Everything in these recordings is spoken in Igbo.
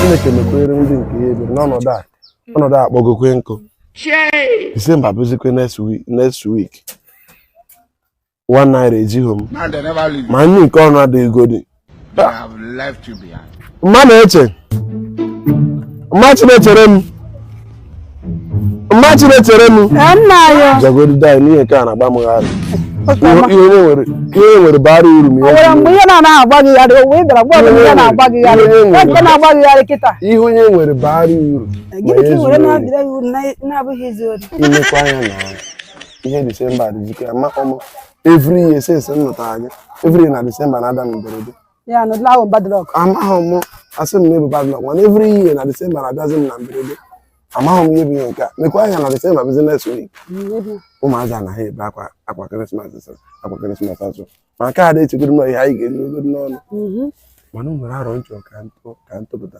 Chineke mekwere ndị nke ya ebere n'ọnọdụ a akpọgokwe nkụ Disemba bụzikwe next week one naira ejighị m ma nri nke ọnụ adịghị godi mma na-eche mma chi na-echere m mma chi na-echere m jagodi dai n'ihe nke a na-agba m gharị ihe nwere bara uru m ihe onye nwere bara uru imekwa anya na ihe disemba dịzikwa amaghị m every year since m nụtara gị every year na disemba na-ada m mberede ya na ụdịla ahụ bad luck amaghị m asị m na-ebu bad luck mana every year na disemba na-abịazi m na mberede amaghị m ihe bụ ihe nke a mekwa anya na disemba bụzi next week ụmụazị a na-ebe akwa akwa krismas akwa krismas azụ ma nke a na-echegoro m ihe anyị ga-erigodu n'ọnụ mhm. mana o nwere aro m chọ ka m tụpụta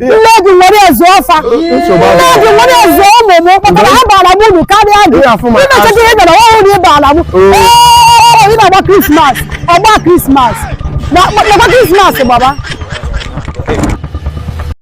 nne gị nwere ezu ọfa nne gị nwere ezu ụmụ m kpatara ha baara m uru karịa gị Ihe afụ ma imechata ihe bịara ọhụrụ ị baara m Oo. Ee, ị na-agba krismas ọgba krismas nakwa krismas gbaba